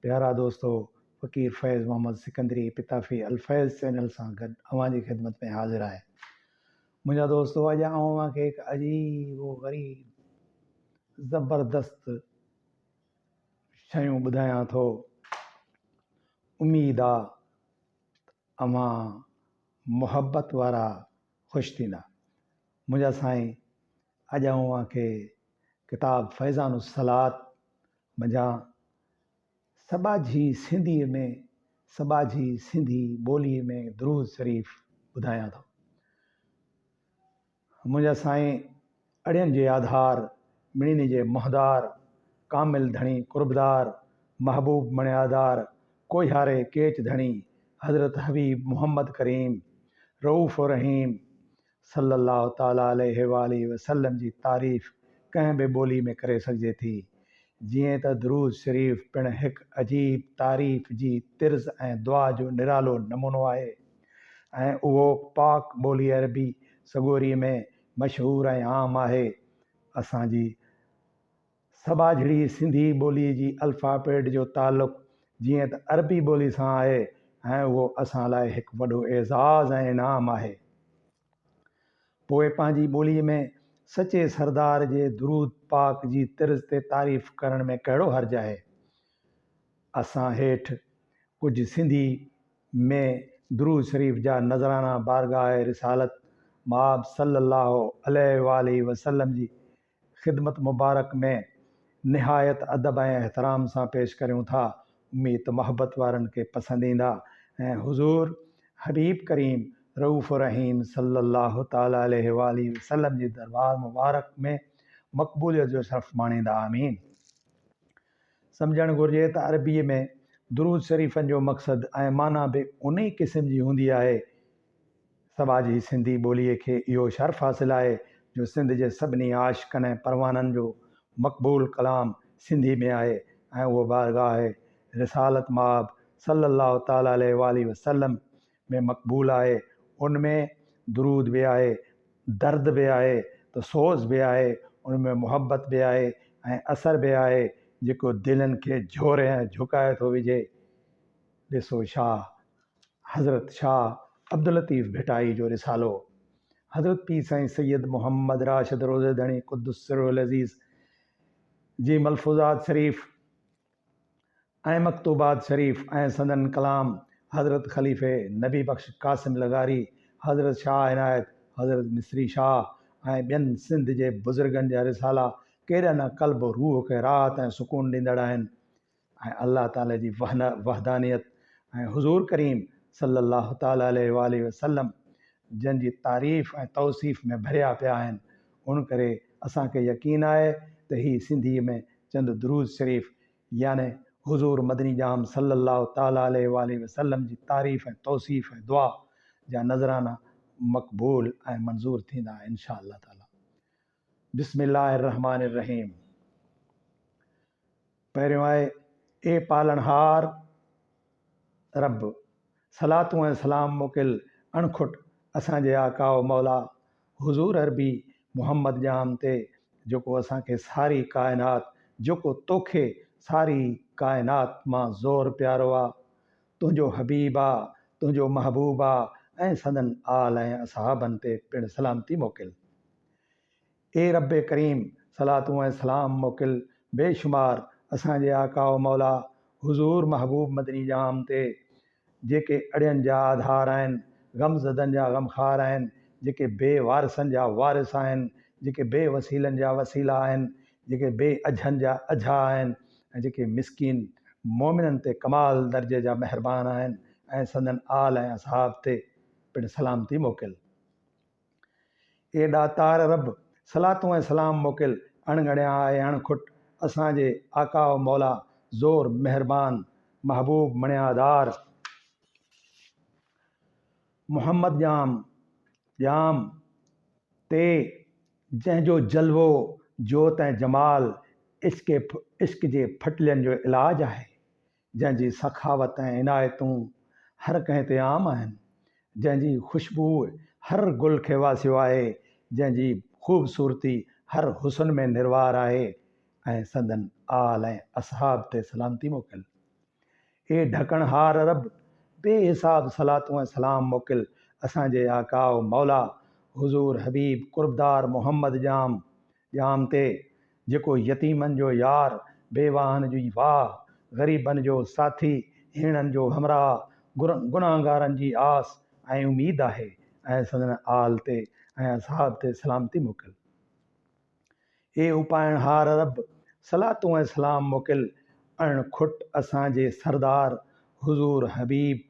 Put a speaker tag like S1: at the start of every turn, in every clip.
S1: پيارا دوستو! فقير فيض محمد سڪندري پتافي الفيض چينل سان گڏ اوهان جي خدمت ۾ حاضر آهي. منهنجا دوستو اڄ آئون اوهان کي هڪ عجيب و غريب زبردست شيون ٻڌايان ٿو. اميد آ ته اوهان محبت وارا خوش ٿيندا. منهنجا سائين اڄ آئون اوهان کي ڪتاب فيضان الصلات منجهان سٻاجهي سنڌيء ۾ سٻاجهي سنڌي ٻوليء ۾ درود شريف ٻڌايان ٿو. منهنجا سائين اڙين جي آڌار، مڙيني جي منهندار، ڪامل ڌڻي قربدار، محبوب مڻيادار، ڪوهياري ڪيچ ڌڻي، حضرت حبيب محمد ڪريم، رئوف و رحيم، صلّي الله تعالٰي عليه واٰله وسلّم جي تعريف ڪنهن به ٻولي ۾ ڪري سگهجي ٿي. جيئن ته درود شريف پڻ هڪ عجيب تعريف جي طرز ۽ دعا جو نرالو نمونو آهي ۽ اهو پاڪ ٻولي عربي سڳوري ۾ مشهور ۽ عام آهي. اسان جي سٻاجهڙي سنڌي ٻوليء جي الفابيٽ جو تعلق جيئن ته عربي ٻوليء سان آهي ۽ اهو اسان لاء هڪ وڏو اعزاز ۽ انعام آهي. پوء پنهنجي ٻوليء ۾ سچي سردار جي درود پاڪ جي طرز تي تعريف ڪرڻ ۾ ڪهڙو حرج آهي؟ اسان هيٺ ڪجهه سنڌي ۾ درود شريف جا نذرانا بارگاهه رسالت مآب صلّي اللّٰه عليه واٰله وسلّم جي خدمت مبارڪ ۾ نهايت ادب ۽ احترام سان پيش ڪريون ٿا اميد ته محبت وارن کي پسند ايندا ۽ حضور حبيب ڪريم رئوف الرحيم صلي الله تعالي عليه واٰله وسلم جي دربار مبارڪ ۾ مقبوليت جو شرف ماڻيندا آمين سمجهڻ گهرجي ته عربيء ۾ درود شريفن جو مقصد ۽ معنيٰ به انهيء قسم جي هوندي آهي. سوا جي سنڌي ٻوليء کي اهو شرف حاصل آهي جو سنڌ جي سڀني عاشقن ۽ پروانن جو مقبول ڪلام سنڌيء ۾ آهي ۽ اهو بارگاهه رسالت مآب صلّي اللّٰه تعالٰي عليه واٰله وسلّم ۾ مقبول آهي ان ۾ درود به آهي درد به آهي ته سوز به آهي ان ۾ محبت به آهي ۽ اثر به آهي جيڪو دلين کي جهوري ۽ جهڪائي ٿو وجهي ڏسو شاهه حضرت شاهه عبداللطيف ڀٽائي جو رسالو حضرت پير سائين سيد محمد راشد روضي ڌڻي قدس سره العزيز جي ملفوظات شريف ۽ مڪتوبات شريف ۽ سندن ڪلام حضرت خليفي نبي بخش قاسم لغاري، حضرت شاهه عنايت، حضرت مصري شاهه ۽ ٻين سنڌ جي بزرگن جا رسالا ڪيڏا نه قلب و روح کي راحت ۽ سڪون ڏيندڙ آهن ۽ الله تعالي جي وحدانيت ۽ حضور ڪريم صلي الله تعالي عليه واٰله وسلم جن جي تعريف ۽ توصيف ۾ ڀريا پيا آهن ان ڪري اسان کي يقين آهي ته هي سنڌيء ۾ چند درود شريف يعني حضور مدني ڄام صلّي الله تعالٰي عليه واٰله وسلّم جي تعريف ۽ توصيف ۽ دعا جا نذرانا مقبول ۽ منظور ٿيندا ان شاء الله تعالٰي بسم الله الرحمٰن الرحيم. پهريون آهي، اي پالڻهار رب! صلاتون ۽ سلام موڪل اڻکٽ اسان جي آقا و مولا حضور عربي محمد ڄام تي جيڪو اسان کي ساري ڪائنات جيڪو توکي ساري ڪائنات مان زور پيارو آ، تنهنجو حبيب آ، تنهنجو محبوب آ ۽ سندن آل ۽ اصحابن تي پڻ سلامتي موڪل. اي ربّ ڪريم! صلاتون ۽ سلام موڪل بي شمار اسان جي آقا و مولا حضور محبوب مدني ڄام تي، جيڪي اڙين جا آڌار آهن، غم زدن جا غمخار آهن، جيڪي بي وارثن جا وارث آهن، جيڪي بي وسيلن جا وسيلا آهن، جيڪي بي اجهن جا اجها آهن ۽ جيڪي مسڪين مؤمنن تي ڪمال درجي جا مهربان آهن ۽ سندن آل ۽ اصحاب تي پڻ سلامتي موڪل. اي ڏاتار رب! صلاتون ۽ سلام موڪل اڻ ڳڻيا ۽ اڻ کٽ اسان جي آقا و مولا زور مهربان محبوب مڻيادار محمد ڄام ڄام تي جنهن جو جلوو جوت ۽ جمال عشق جي ڦٽلين جو علاج آهي جنهن جي سخاوت ۽ عنايتون هر ڪنهن تي عام آهن، جنهن جي خوشبوء هر گل کي واسيو آهي، جنهن جي خوبصورتي هر حسن ۾ نروار آهي ۽ سندن آل ۽ اصحاب تي سلامتي موڪل. اي ڍڪڻهار رب! بي حساب صلاتون ۽ سلام موڪل اسان جي آقا و مولا حضور حبيب قربدار محمد ڄام ڄام تي، جيڪو يتيمن جو يار، بيواهن جي واهه، غريبن جو ساٿي، هيڻن جو همراهه، گناهگارن جي آس ۽ اميد آهي ۽ سندن آل تي ۽ اصحاب تي سلامتي موڪل. اي اپائڻهار رب! صلاتون ۽ سلام موڪل اڻ کٽ اسان جي سردار حضور حبيب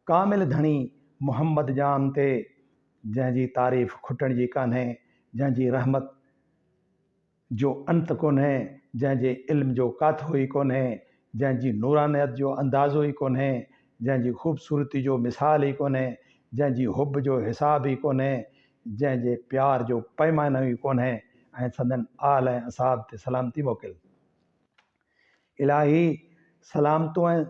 S1: ڪامل ڌڻي محمد ڄام تي جنهن جي تعريف کٽڻ جي ڪانهي، جنهن جي رحمت جو انت ڪونهي، جنهن جي علم جو ڪاٿو ئي ڪونهي، جنهن جي نورانيت جو اندازو ئي ڪونهي، جنهن جي خوبصورتي جو مثال ئي ڪونهي، جنهن جي حب جو حساب ئي ڪونهي، جنهن جي پيار جو پيمانو ئي ڪونهي ۽ سندن آل ۽ اصحاب تي سلامتي موڪل. الاهي سلامتون ۽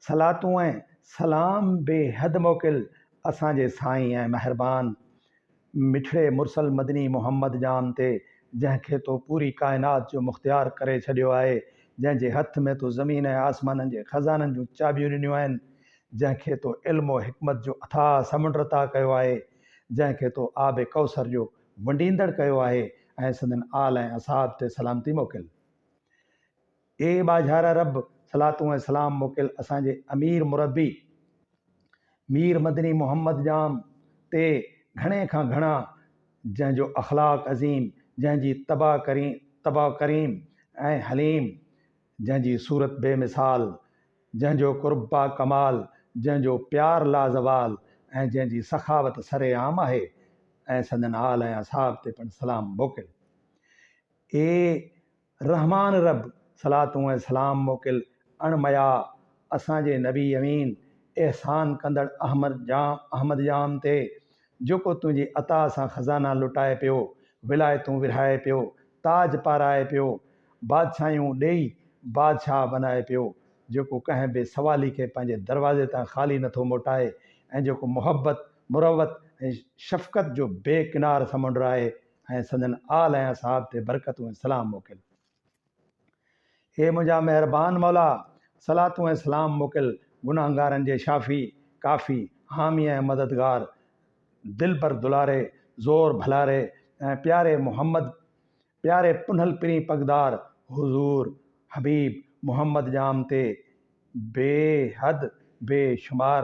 S1: صلاتون ۽ سلام بي حد موڪل اسان جي سائين ۽ مهربان مٺڙي مرسل مدني محمد ڄام تي جنهن کي تو پوري ڪائنات جو مختيار ڪري ڇڏيو آهي جنهن جي هٿ ۾ تو زمين ۽ آسمانن جي خزانن جون چاٻيون ڏنيون آهن جنهن کي تو علم و حڪمت جو اٿاهه سمنڊ عطا ڪيو آهي جنهن کي تو آب ڪوثر جو ونڊيندڙ ڪيو آهي ۽ سندن آل ۽ اصحاب تي سلامتي موڪل. اي ٻاجهارا رب! صلاتون ۽ سلام موڪل اسان جي امير مربي مير مدني محمد ڄام تي گهڻي کان گهڻا جنهن جو اخلاق عظيم، جنهن جي طبع طبع ڪريم ۽ حليم، جنهن جي صورت بي مثال، جنهن جو قرب با ڪمال، جنهن جو پيار لا زوال ۽ جنهن جي سخاوت سر عام آهي ۽ سندن آل ۽ اصحاب تي پڻ سلام موڪل. اي رحمان رب صلاتون ۽ سلام موڪل اڻ مئا اسان جي نبي امين احسان ڪندڙ احمد ڄام احمد ڄام تي جيڪو تنهنجي عطا سان خزانا لٽائي پيو ولايتون ورهائي پيو تاج پارائي پيو بادشاهيون ڏيئي بادشاهه بنائي پيو جيڪو ڪنهن بي سوالي کي پنهنجي دروازي تان خالي نٿو موٽائي ۽ جيڪو محبت مروت ۽ شفقت جو بي ڪنار سمنڊ آهي ۽ سندن آل ۽ اصحاب تي برڪتون ۽ سلام موڪل. اي منهنجا مهربان مولا! صلاتون ۽ سلام موڪل گناهگارن جي شافي، ڪافي، حامي ۽ مددگار، دلبر دلاري، زور ڀلاري ۽ پياري محمد، پياري پنهل پرين پڳدار، حضور، حبيب، محمد ڄام تي بيحد بي شمار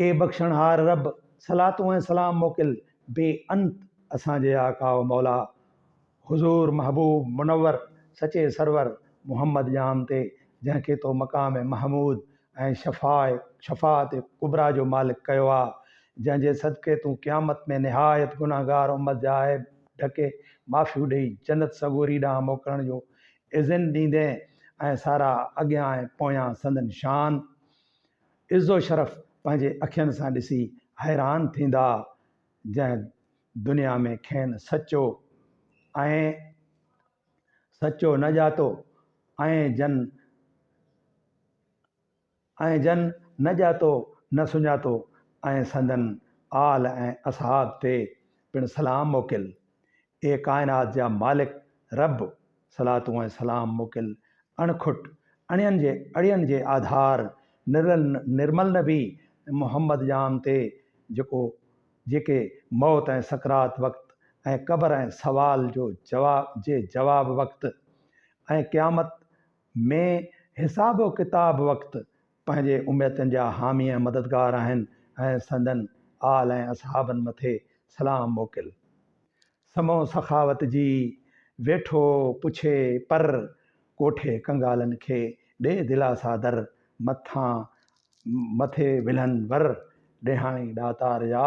S1: اي بخشڻھار رب! صلاتون ۽ سلام موڪل بي انت اسان جي آقا و مولا حضور محبوب منور سچي سرور محمد ڄام تي جنھن کي تو مقام محمود ۽ شفاعت ڪبريٰ جو مالڪ ڪيو آ جنھن جي صدقي تون قيامت ۾ نھايت گنھگار امت جا عيب ڍڪي معافيون ڏئي جنت سڳوري ڏانھن موڪلڻ جو اذن ڏيندي ۽ سارا اڳيان ۽ پويان سندن شان، عز و شرف پنهنجي اکين سان ڏسي حيران ٿيندا، جنهن دنيا ۾ کين سچو ۽ سچو نه ڄاتو ۽ جن ۽ جن نه ڄاتو نه سڃاتو ۽ سندن آل ۽ اصحاب تي پڻ سلام موڪل. اي ڪائنات جا مالڪ رب! صلاتون ۽ سلام موڪل اڻ کٽ، اڻين جي اڙين جي آڌار نرل نرمل نبي محمد ڄام تي جيڪو جيڪي موت ۽ سڪرات وقت ۽ قبر ۽ سوال جو جواب جي جواب وقت ۽ قيامت ۾ حساب و ڪتاب وقت پنهنجي امتن جا حامي ۽ مددگار آهن ۽ سندن آل ۽ اصحابن مٿي سلام موڪل سمون سخاوت جي ويٺو پڇي پر ڪوٺي ڪنگالن کي ڏي دلاسا در مٿان مٿي ولهن ور ڏيهاڻي ڏاتار جا